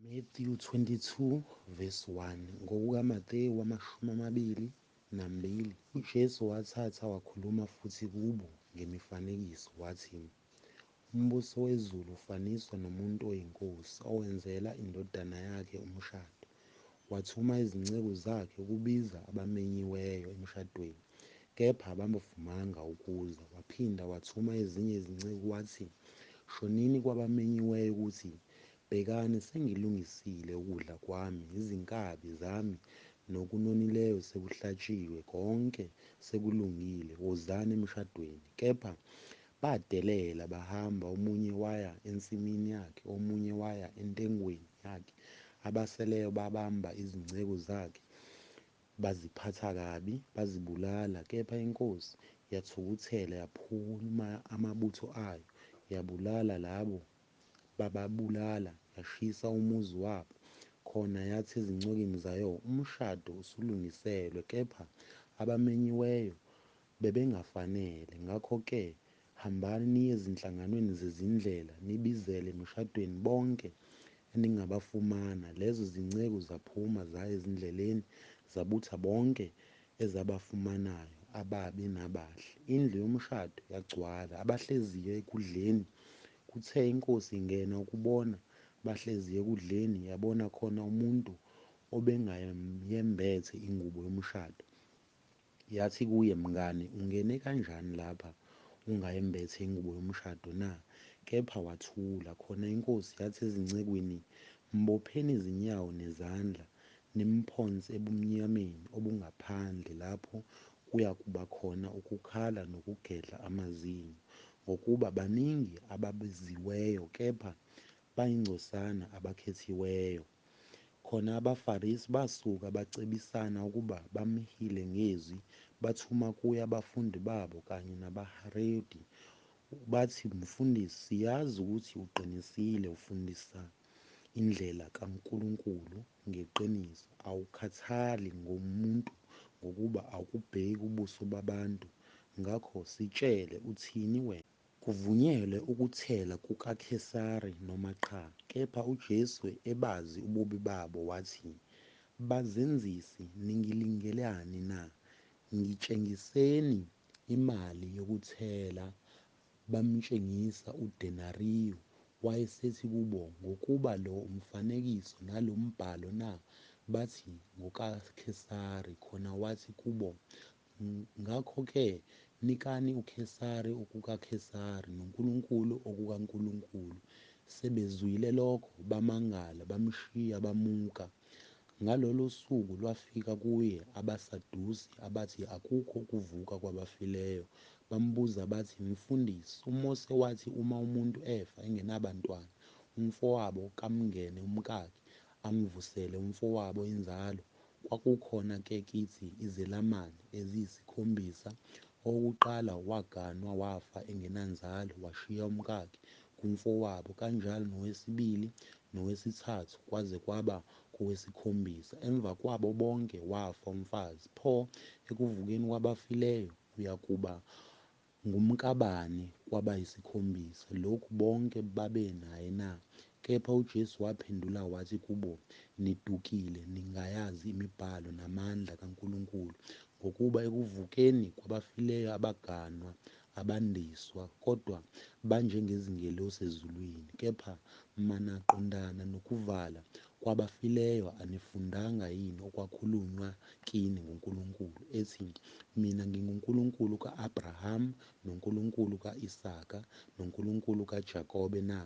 Matthew 22 verse 1 NgokukaMatewu amashumi amabili nambili, uJesu wathatha wakhuluma futhi kubo ngemifanekiso, wathi, Umbuso wezulu ufaniswa nomuntu oyinkosi owenzela indodana yakhe umshado. Wathuma izinceku zakhe ukubiza abamenyiweyo emshadweni, kepha ababavumanga ukuza. Waphinda wathuma ezinye izinceku wathi, Shonini kwabamenyiweyo ukuthi, Bhekani, sengilungisile ukudla kwami, izinkabi zami nokunonileyo sekuhlatshiwe, konke sekulungile, wozani emshadweni. Kepha badelela, bahamba, omunye waya ensimini yakhe, omunye waya entengweni yakhe, abaseleyo babamba izinceku zakhe, baziphatha kabi, bazibulala, kepha inkosi yathukuthela, yaphuma amabutho ayo, yabulala labo bababulala yashisa umuzi wabo khona yathi ezincokeni zayo umshado usulungiselwe kepha abamenyiweyo bebengafanele ngakho ke hambani niye ezinhlanganweni zezindlela nibizele emishadweni bonke eningabafumana lezo zinceku zaphuma zaya ezindleleni zabutha bonke ezabafumanayo ababi nabahle. Indlu yomshado yagcwala, abahleziyo ekudleni. Kuthe inkosi ingena ukubona bahleziyo ekudleni, yabona khona umuntu obengayembethe ingubo yomshado. Yathi kuye, Mngane, ungene kanjani lapha ungayembethe ingubo yomshado na? Kepha wathula. Khona inkosi yathi ezincekwini, Mbopheni izinyawo nezandla, Nimphonse ebumnyameni obungaphandle lapho kuya kuba khona ukukhala nokugedla amazinyo, ngokuba baningi ababiziweyo kepha bayingcosana abakhethiweyo. Khona abaFarisi basuka bacebisana ukuba bamhile ngezwi, bathuma kuye abafundi babo kanye nabaHaredi, bathi, Mfundisi, siyazi ukuthi uqinisile, ufundisa indlela kaNkulunkulu ngeqiniso, awukhathali ngomuntu ngokuba awukubheki ubuso babantu, ngakho sitshele, uthini wena? Kuvunyelwe ukuthela kukaKhesari noma qha, kepha uJesu ebazi ububi babo wathi, Bazenzisi, ningilingelani na? Ngitshengiseni imali yokuthela Bamtshengisa udenariyu. Wayesethi kubo, Ngokuba lo umfanekiso nalo mbhalo na? Bathi, NgokaKhesari. Khona wathi kubo, Ngakho-ke, nikani uKhesari okukaKhesari, noNkulunkulu okukaNkulunkulu. Sebezwile lokho, bamangala, bamshiya, bamuka. Ngalolo suku lwafika kuye abaSadusi, abathi akukho ukuvuka kwabafileyo. Bambuza bathi, Mfundisi, uMose wathi uma umuntu efa engenabantwana, umfowabo kamngene umkakhe, amvusele umfowabo inzalo. Kwakukhona-ke kithi izelamani eziyisikhombisa, Owokuqala waganwa wafa engenanzalo washiya umkakhe kumfowabo kanjalo nowesibili nowesithathu kwaze kwaba kowesikhombisa emva kwabo bonke wafa umfazi pho ekuvukeni kwabafileyo uyakuba ngumkabani kwabayisikhombisa lokhu bonke babenaye na Kepha uJesu waphendula wathi kubo, Nidukile, ningayazi imibhalo namandla kaNkulunkulu, ngokuba ekuvukeni kwabafileyo abaganwa, abandiswa, kodwa banjengezingelosi ezulwini. Kepha mana qondana nokuvala kwabafileyo, anifundanga yini okwakhulunywa kini nguNkulunkulu, ethi, Mina nginguNkulunkulu ka-Abraham, noNkulunkulu ka-Isaka, noNkulunkulu kaJakobe na?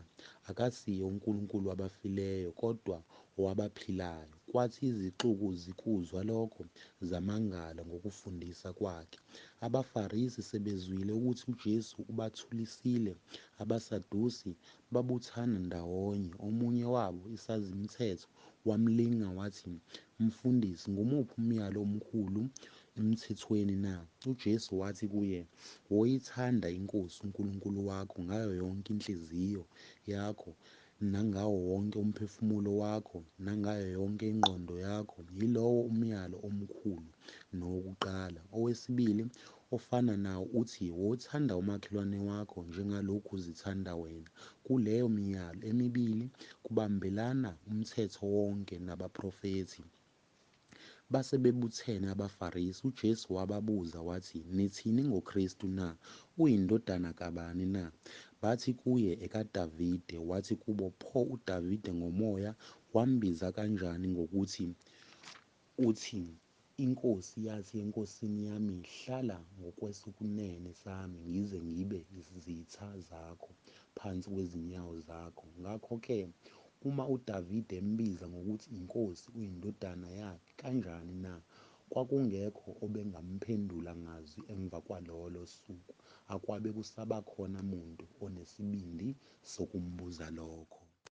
Akasiye uNkulunkulu wabafileyo, kodwa owabaphilayo? Kwathi izixuku zikuzwa lokho, zamangala ngokufundisa kwakhe. AbaFarisi sebezwile ukuthi uJesu ubathulisile, abaSadusi babuthana ndawonye, omunye wabo isazimthetho wamlinga wathi, Mfundisi, ngumuphi umyalo omkhulu eMthethweni na? UJesu wathi kuye, Woyithanda iNkosi uNkulunkulu wakho ngayo yonke inhliziyo yakho, nangawo wonke umphefumulo wakho, nangayo yonke ingqondo yakho. Yilowo umyalo omkhulu nowokuqala. Owesibili Ofana nawo uthi, Wothanda umakhelwane wakho njengalokhu uzithanda wena. Kuleyo miyalo emibili kubambelana uMthetho wonke nabaprofethi. Base bebuthene abaFarisi, uJesu wababuza wathi, Nithini ngoKristu na? Uyindodana kabani na? Bathi kuye, EkaDavide. Wathi kubo, Pho uDavide ngomoya wambiza kanjani ngokuthi uthini? Inkosi yathi enkosini yami, Hlala ngokwesokunene sami ngize ngibe izitha zakho phansi kwezinyawo zakho. Ngakho-ke, uma uDavide embiza ngokuthi inkosi, uyindodana yakhe kanjani na? Kwakungekho obengamphendula ngazwi emva kwalolo suku, akwabe kusabakhona muntu onesibindi sokumbuza lokho.